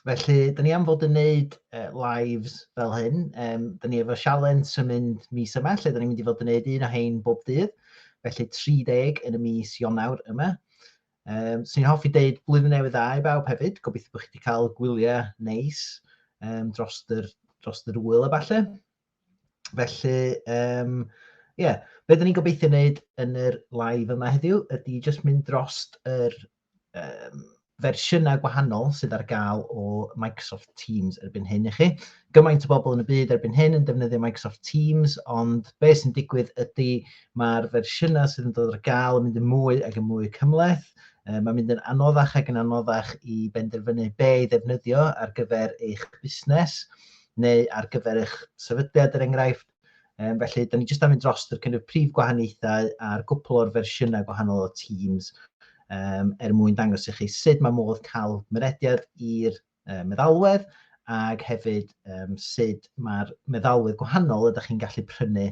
Felly, dyn ni am fod yn neud uh, lives fel hyn. Um, dyn ni efo sialens yn mynd mis yma, lle dyn ni'n mynd i fod yn neud un o hein bob dydd. Felly 30 yn y mis Ionawr yma. Um, Swn i'n hoffi deud blwyddyn newydd dda i bawb hefyd. Gobeithio bod chi wedi cael gwyliau neis um, dros, yr, dros yr wyl a falle. Felly, um, yeah. be dyn ni'n gobeithio wneud yn yr live yma heddiw ydy jyst mynd dros yr um, fersiynau gwahanol sydd ar gael o Microsoft Teams erbyn hyn i chi. Gymaint o bobl yn y byd erbyn hyn yn defnyddio Microsoft Teams, ond be sy'n digwydd ydy mae'r fersiynau sydd yn dod ar gael yn mynd yn mwy ac yn mwy cymleth. E, mae'n mynd yn anoddach ac yn anoddach i benderfynu be i ddefnyddio ar gyfer eich busnes neu ar gyfer eich sefydliad er enghraifft. Um, felly, da ni jyst am mynd dros yr cynnydd prif gwahaniaethau a'r gwpl o'r fersiynau gwahanol o Teams um, er mwyn dangos i chi sut mae modd cael mynediad i'r um, meddalwedd ac hefyd um, sut mae'r meddalwedd gwahanol ydych chi'n gallu prynu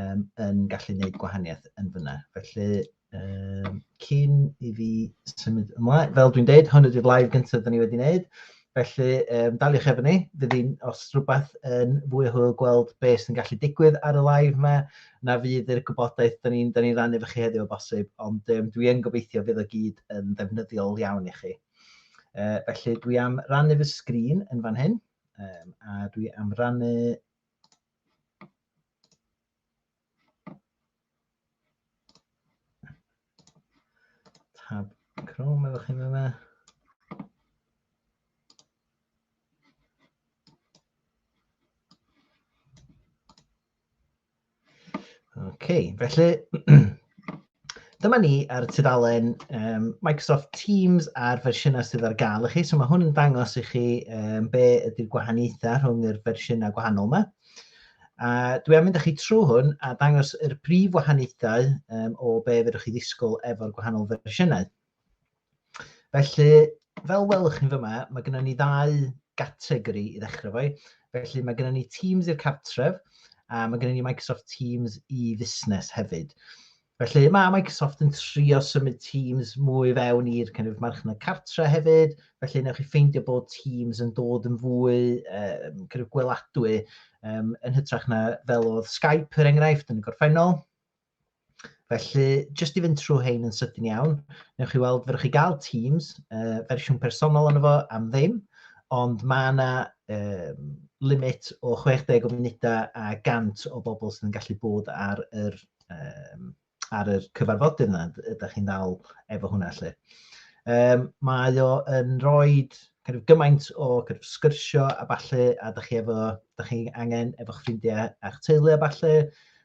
um, yn gallu gwneud gwahaniaeth yn fyna. Felly, Um, cyn i fi symud ymlaen, fel dwi'n deud, hwn ydy'r live gyntaf dyn ni wedi wneud. Felly, um, daliwch efo ni. Fydd hi'n, os rhywbeth yn fwy o hwyl gweld beth sy'n gallu digwydd ar y live yma, na fydd yr gwybodaeth dyn ni'n ni rannu efo chi heddiw o bosib, ond um, dwi yn gobeithio fydd o gyd yn ddefnyddiol iawn i chi. Uh, felly, dwi am rannu fy sgrin yn fan hyn, um, a dwi am rannu Tab Chrome efo chi'n yna. OK, felly Dyma ni ar tudalen um, Microsoft Teams a'r fersiynau sydd ar gael i chi. So mae hwn yn dangos i chi um, be ydy'r gwahaniaethau rhwng yr fersiynau gwahanol yma. A dwi am mynd â chi trwy hwn a dangos yr prif wahaniaethau um, o be fydwch chi ddisgwyl efo'r gwahanol fersiynau. Felly, fel welwch chi'n fyma, mae gennym ni ddau gategori i ddechrau fo. Felly mae gennym ni Teams i'r cartref a mae gennym ni Microsoft Teams i fusnes hefyd. Felly mae Microsoft yn trio symud Teams mwy fewn i'r kind of, marchnad cartre hefyd, felly newch chi ffeindio bod Teams yn dod yn fwy uh, kind of, gweladwy um, yn hytrach na fel oedd Skype, er enghraifft, yn y gorffennol. Felly, jyst i fynd trwy hein yn sydyn iawn, newch chi weld, fyrwch chi gael Teams, uh, fersiwn personol yna fo am ddim, ond mae yna um, limit o 60 o funudau a 100 o bobl sydd yn gallu bod ar yr, um, ar yr cyfarfodydd yna, ydych chi'n dal efo hwnna lle. Um, mae o yn rhoi kind of, gymaint o kind of, sgyrsio a falle, a ydych chi efo, ydych chi angen efo ffrindiau a'ch teulu a falle,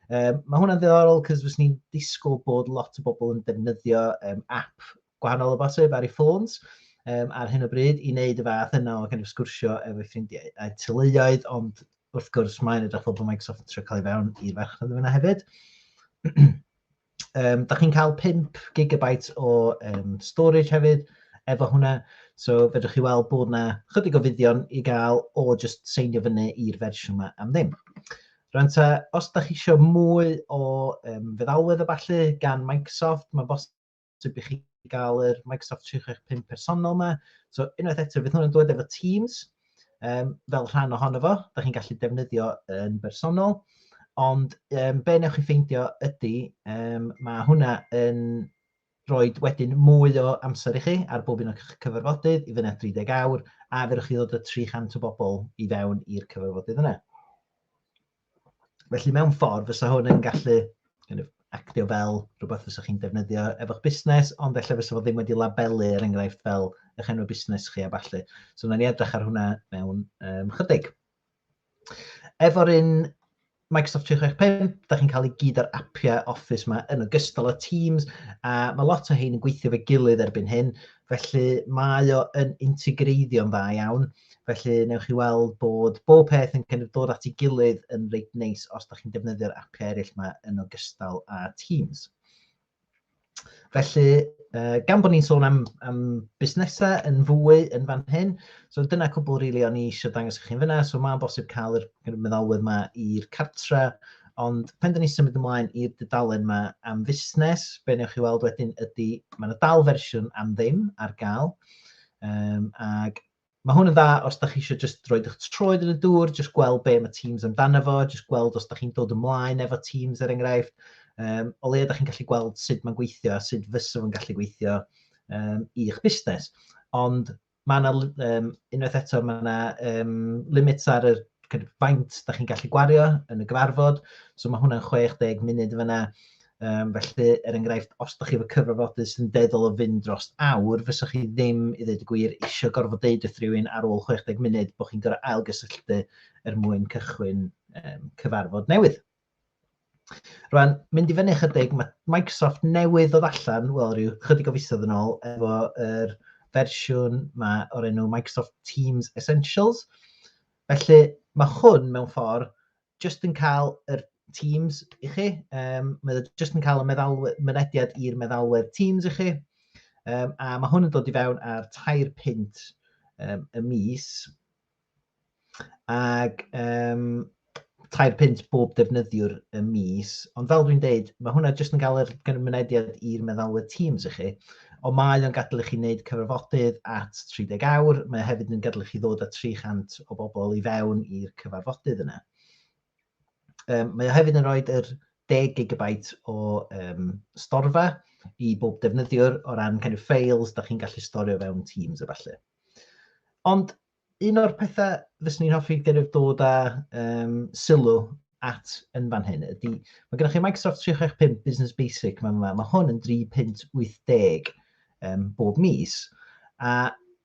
Um, mae hwnna'n ddiddorol cos fes ni'n disgwyl bod lot o bobl yn defnyddio um, app gwahanol o bosib ar ei ffôns um, ar hyn o bryd i wneud y fath yna o kind of sgwrsio efo ffrindiau a tyluoedd, ond wrth gwrs mae'n edrych fel bod Microsoft yn trio cael ei fewn i'r farchnad yna hefyd. Um, da chi'n cael 5 gigabyte o um, storage hefyd efo hwnna. So fedrwch chi weld bod yna chydig o fuddion i gael o just seinio fyny i'r fersiwn yma am ddim. Rwy'n ta, os da chi eisiau mwy o um, feddalwedd o falle gan Microsoft, mae'n bosib i chi gael yr Microsoft 365 personol yma. So unwaith eto, fydd hwnna'n dod efo Teams. um, fel rhan ohono fo, da chi'n gallu defnyddio yn bersonol, ond um, be newch chi ffeindio ydy, um, mae hwnna yn rhoi wedyn mwy o amser i chi ar bob un o'ch cyfarfodydd i fyna 30 awr, a fe chi ddod y 300 o bobl i fewn i'r cyfarfodydd yna. Felly mewn ffordd fysa hwn yn gallu kind of, actio fel rhywbeth fysa chi'n defnyddio efo'ch busnes, ond efallai fysa fo ddim wedi labelu er enghraifft fel eich enw busnes chi a falle. So wnawn ni edrych ar hwnna mewn um, chydig. Efo'r un Microsoft 365, da chi'n cael ei gyd ar apiau Office yma yn ogystal â Teams, a mae lot o hyn yn gweithio fe gilydd erbyn hyn, felly mae o yn integreiddio'n dda iawn. Felly, newch chi weld bod bob peth yn kind of dod at ei gilydd yn reit neis os da chi'n defnyddio'r appiau eraill yma yn ogystal â Teams. Felly, uh, gan bod ni'n sôn am, am busnesau yn fwy yn fan hyn, so dyna cwbl rili really o'n i eisiau dangos i chi'n fyna, so mae'n bosib cael yr meddalwedd yma i'r cartre, ond pen dyn ni symud ymlaen i'r dudalen yma am fusnes, be newch chi weld wedyn ydy, mae'n dal fersiwn am ddim ar gael, um, ac Mae hwn yn dda os da chi eisiau jyst roed eich troed yn y dŵr, jyst gweld be mae Teams amdano fo, jyst gweld os da chi'n dod ymlaen efo Teams er enghraifft. Um, o leia da chi'n gallu gweld sut mae'n gweithio a sut fysaf yn gallu gweithio um, i'ch busnes. Ond mae yna, um, unwaith eto, mae yna um, limits ar y kind of, faint da chi'n gallu gwario yn y gyfarfod. So mae hwnna'n 60 munud fyna. Um, felly, er enghraifft, os ydych chi efo cyfarfodydd sy'n deddol o fynd dros awr, fysa chi ddim, i ddweud y gwir, eisiau gorfod deud wrth rhywun ar ôl 60 munud bod chi'n gorfod ailgysylltu er mwyn cychwyn um, cyfarfod newydd. Rwan, mynd i fyny chydig, mae Microsoft newydd ddod allan, wel, rhyw chydig o fisoedd yn ôl, efo'r er fersiwn mae o'r enw Microsoft Teams Essentials. Felly, mae hwn mewn ffordd jyst yn cael yr Teams i chi. Um, mae o jyst yn cael y meddalwedd, mynediad i'r meddalwedd Teams i chi. Um, a mae hwn yn dod i fewn ar tair pint um, y mis. Ac um, tair pint bob defnyddiwr y mis. Ond fel dwi'n deud, mae hwnna jyst yn cael yr mynediad i'r meddalwedd Teams i chi. Ond mae o'n gadel i chi wneud cyfarfodydd at 30 awr, mae o hefyd yn gadel i chi ddod â 300 o bobl i fewn i'r cyfarfodydd yna. Um, mae o hefyd yn rhoi yr 10 gigabait o um, storfa i bob defnyddiwr o ran kind of files da chi'n gallu storio fewn Teams a falle. Ond Un o'r pethau fyswn i'n hoffi gennyf dod â um, sylw at yn fan hyn ydy, mae gennych chi Microsoft 365 Business Basic mae'n yma, mae hwn yn 3.80 um, bob mis, a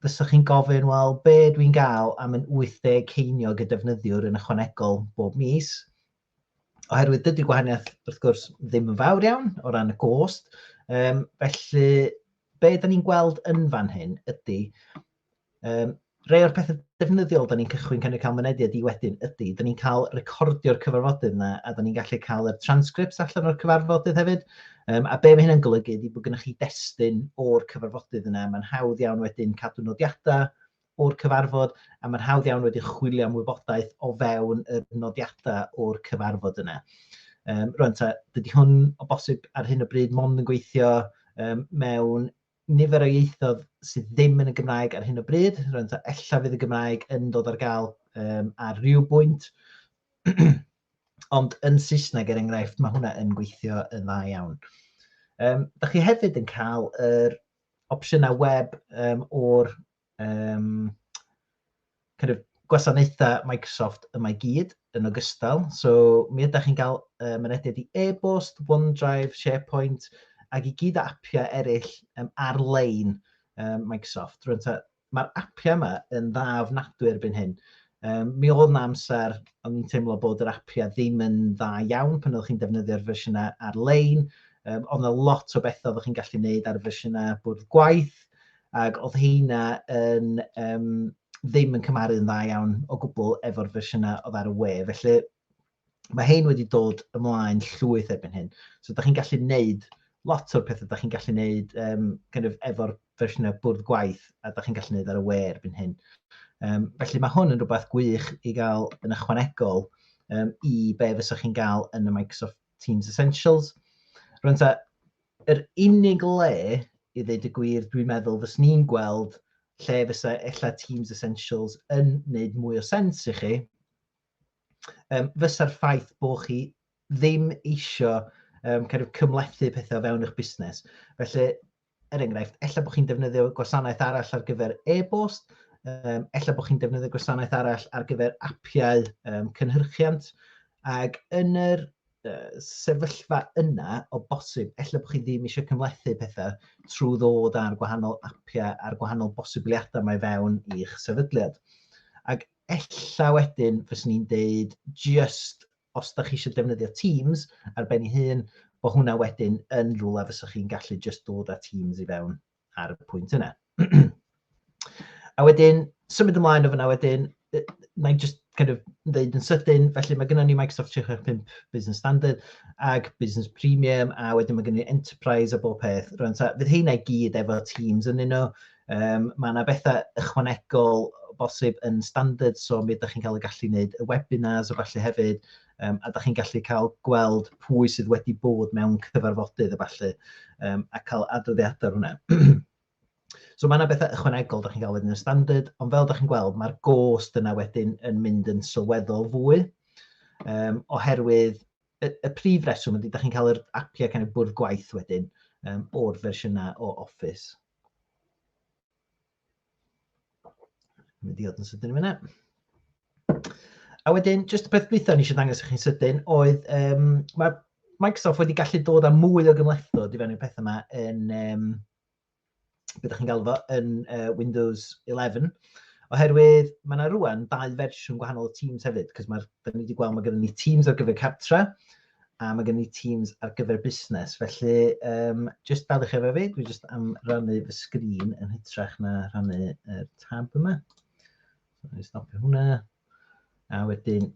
fysa chi'n gofyn, wel, be dwi'n gael am yn 80 ceiniog y defnyddiwr yn ychwanegol bob mis, Oherwydd dydy gwahaniaeth, wrth gwrs, ddim yn fawr iawn o ran y gost. Um, felly, be da ni'n gweld yn fan hyn ydy, um, rei o'r pethau defnyddiol da ni'n cychwyn cynnig cael mynediad i wedyn ydy, da ni'n cael recordio'r cyfarfodydd yna a da ni'n gallu cael y transcripts allan o'r cyfarfodydd hefyd. Um, a be mae hynna'n golygu ydy bod gennych chi destun o'r cyfarfodydd yna. Mae'n hawdd iawn wedyn cadw nodiadau, o'r cyfarfod a mae'n hawdd iawn wedyn chwilio am wybodaeth o fewn y nodiadau o'r cyfarfod yna. Um, rwan ta, dydy hwn o bosib ar hyn o bryd mond yn gweithio um, mewn nifer o ieithoedd sydd ddim yn y Gymraeg ar hyn o bryd. Rwan ta, ella fydd y Gymraeg yn dod ar gael um, ar rhyw bwynt. Ond yn Saesneg, er enghraifft, mae hwnna yn gweithio yn dda iawn. Um, da chi hefyd yn cael yr opsiynau web um, o'r um, kind of gwasanaethau Microsoft yma i gyd yn ogystal. So mi ydych chi'n cael um, mynediad i e-bost, OneDrive, SharePoint, ac i gyd o apiau eraill um, ar-lein um, Microsoft. Rwy'n ta Mae'r apiau yma yn dda ofnadwy erbyn hyn. Um, mi oedd yna amser o'n i'n teimlo bod yr apiau ddim yn dda iawn pan oeddech chi'n defnyddio'r fersiynau ar-lein. Um, oedd yna lot o bethau oeddech chi'n gallu gwneud ar y fersiynau bwrdd gwaith, ac oedd heina yn, um, ddim yn cymharu'n dda iawn o gwbl efo'r fersiynau oedd ar y we. Felly, mae hein wedi dod ymlaen llwyth erbyn hyn. So, da chi'n gallu neud lot o'r pethau da chi'n gallu neud um, kind of, efo'r fersiynau bwrdd gwaith a da chi'n gallu neud ar y we erbyn hyn. Um, felly mae hwn yn rhywbeth gwych i gael yn ychwanegol um, i be fysa chi'n gael yn y Microsoft Teams Essentials. Rwy'n ta, yr unig le i ddeud y gwir, dwi'n meddwl, fys ni'n gweld lle fysa ella Teams Essentials yn wneud mwy o sens i chi, um, fysa'r ffaith bod chi ddim eisiau um, kind of cymlethu pethau o fewn eich busnes. Felly, er enghraifft, ella bod chi'n defnyddio gwasanaeth arall ar gyfer e-bost, um, ella bod chi'n defnyddio gwasanaeth arall ar gyfer apiau um, cynhyrchiant, ac yn yr uh, sefyllfa yna o bosib, ella bod chi ddim eisiau cymlethu pethau trwy ddod ar gwahanol apiau a'r gwahanol bosibiliadau mae fewn i'ch sefydliad. Ac Ella wedyn fyswn i'n deud jyst os da chi eisiau defnyddio Teams ar ben ei hun, bod hwnna wedyn yn rhywle fysa chi'n gallu jyst dod â Teams i fewn ar y pwynt yna. a wedyn, symud ymlaen o fyna wedyn, na i just kind of ddeud yn sydyn, felly mae gennym ni Microsoft 365 Business Standard ag Business Premium, a wedyn mae gennym ni Enterprise a bob peth. Rwy'n ta, fydd heina i gyd efo Teams yn un o, Um, mae yna bethau ychwanegol bosib yn standard, so mi ydych chi'n cael y gallu wneud y webinars o falle hefyd, um, a ydych chi'n gallu cael gweld pwy sydd wedi bod mewn cyfarfodydd y falle, um, a cael adroddiadau hwnna. so mae yna bethau ychwanegol ydych chi'n cael wedyn yn standard, ond fel ydych chi'n gweld, mae'r gost yna wedyn yn mynd yn sylweddol fwy, um, oherwydd y, y prif reswm ydy, ydych chi'n cael yr apiau kind of bwrdd gwaith wedyn um, o'r fersiynau o Office. Mae'n diod yn sydyn i fyna. A wedyn, jyst y peth dwytha ni eisiau dangos i chi'n sydyn, oedd um, mae Microsoft wedi gallu dod â mwy o gymlethdod i fewn i'r pethau yma yn, um, beth ydych chi'n galw fo, yn uh, Windows 11, oherwydd mae yna rwan dau fersiwn gwahanol o Teams hefyd, cos mae, da ni wedi gweld mae gyda ni Teams ar gyfer cartre, a mae gen i Teams ar gyfer busnes. Felly, um, jyst dadwch efo fi, dwi jyst am rannu fy sgrin yn hytrach na rannu y tab yma. So, ni'n stopio hwnna. A wedyn,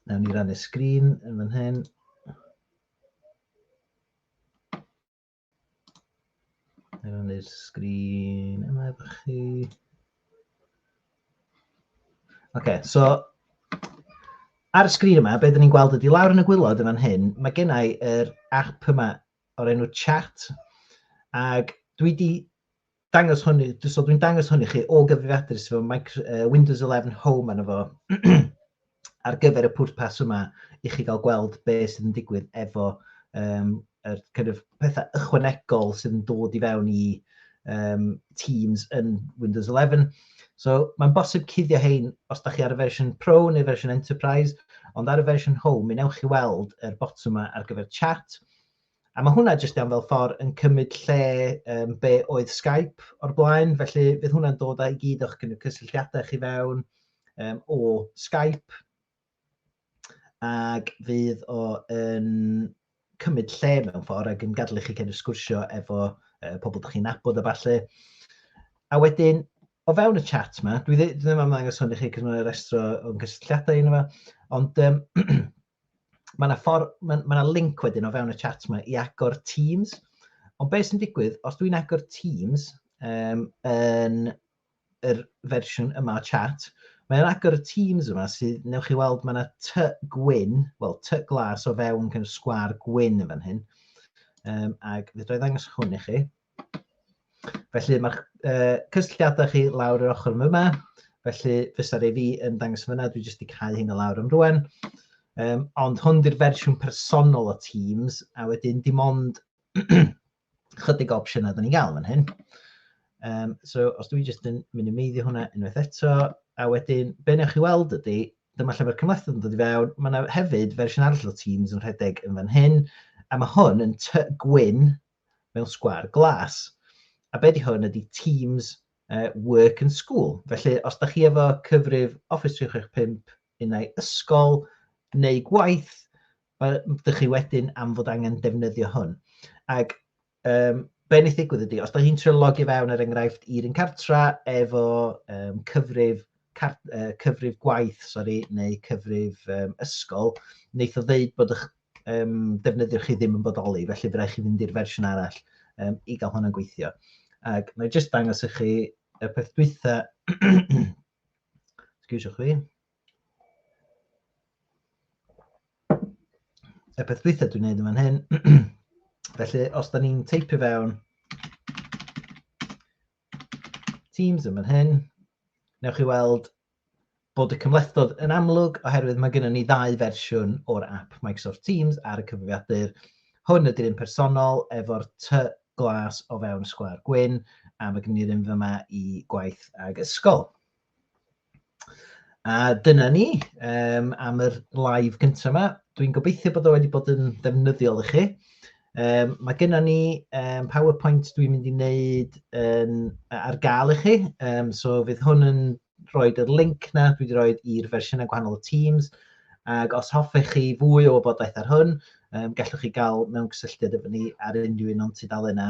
nawn ni rannu sgrin yn fan hyn. Er yn i'r sgrin yma efo chi. Oce, okay, so ar y sgrin yma, beth ni'n gweld ydy lawr yn y gwylod yn fan hyn, mae gennau yr app yma o'r enw Chat, ac dwi wedi dangos hwn, so dwi'n dangos hwn i chi o gyfrifiadur sydd efo micro, uh, Windows 11 Home arno fo ar gyfer y pwrpas yma i chi gael gweld be sydd yn digwydd efo um, er, kind of, pethau ychwanegol sydd yn dod i fewn i um, Teams yn Windows 11. So mae'n bosib cuddio hein os da chi ar y fersiwn Pro neu fersiwn Enterprise, ond ar y fersiwn Home, mi newch chi weld yr botwm yma ar gyfer chat, A mae hwnna jyst iawn fel ffordd yn cymryd lle um, be oedd Skype o'r blaen, felly bydd hwnna'n dod â'i gyd o'ch cysylltiadau chi fewn um, o Skype ac fydd o yn cymryd lle mewn ffordd ac yn gadlu chi cael ei sgwrsio efo uh, pobl dych chi'n nabod a falle. A wedyn, o fewn y chat yma, dwi ddim am ddangos hwn i chi cos mae'n restro o'n cysylltiadau yna fe, ond um, Mae yna ffordd, mae yna link wedyn o fewn y chat yma i agor Teams. Ond beth sy'n digwydd, os dwi'n agor Teams um, yn yr fersiwn yma o chat, mae yna agor y Teams yma sydd, newch chi weld, mae yna ty gwyn, wel, ty glas o fewn kind of sgwar gwyn yn fan hyn. Um, ac fe dwi ddangos hwn i chi. Felly mae'ch uh, cysylltiadau chi lawr yr ochr yma, felly fysa'r ei fi yn dangos fyna, dwi jyst wedi cael hyn o lawr am rwan. Um, ond hwn di'r fersiwn personol o Teams, a wedyn dim ond chydig opsiynau da ni'n gael fan hyn. Um, so, os dwi jyst yn mynd i meiddio hwnna unwaith eto, a wedyn, be newch chi weld ydy, dyma lle mae'r cymlethdod yn dod i fewn, mae yna hefyd fersiwn arall o Teams yn rhedeg yn fan hyn, a mae hwn yn ty gwyn, mewn sgwâr glas. A be 'di hwn ydi Teams uh, Work and School. Felly, os da chi efo cyfrif Office 365 unau ysgol neu gwaith, ydych chi wedyn am fod angen defnyddio hwn. Ac um, be wneud ddigwydd ydy, os da chi'n trio logio fewn ar er enghraifft i'r un cartra efo um, cyfrif car, uh, cyfrif gwaith, sori, neu cyfrif um, ysgol, wneud o ddeud bod ych um, defnyddio chi ddim yn bodoli, felly fe rai chi fynd i'r fersiwn arall um, i gael hwnna'n gweithio. Ac mae'n jyst dangos i chi y peth dwytha, excuse chwi, y peth dwytha dwi'n neud yma'n hyn, felly os da ni'n teipio fewn Teams yn fan hyn. Newch chi weld bod y cymhlethdod yn amlwg oherwydd mae gennym ni ddau fersiwn o'r app Microsoft Teams ar y cyfrifiadur. Hwn ydy'r un personol efo'r ty glas o fewn sgwâr gwyn a mae gennym ni'r un fyma i gwaith ag ysgol. A dyna ni um, am yr live gyntaf yma. Dwi'n gobeithio bod o wedi bod yn ddefnyddiol i chi. Um, mae gennym ni um, PowerPoint dwi'n mynd i wneud um, ar gael i chi, um, so fydd hwn yn rhoi yr link na dwi wedi rhoi i'r fersiynau gwahanol o Teams, ac os hoffech chi fwy o wybodaeth ar hwn, um, gallwch chi gael mewn cysylltiad efo ni ar unrhyw un o'n tudalen yna,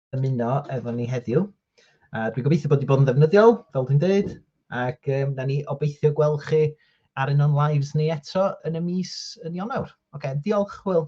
ymuno efo ni heddiw. A dwi'n gobeithio bod wedi bod yn ddefnyddiol, fel dwi'n dweud, ac um, na ni obeithio gweld chi ar un o'n lives ni eto yn y mis yn Ionawr. Oce, okay, diolch, Hwyl.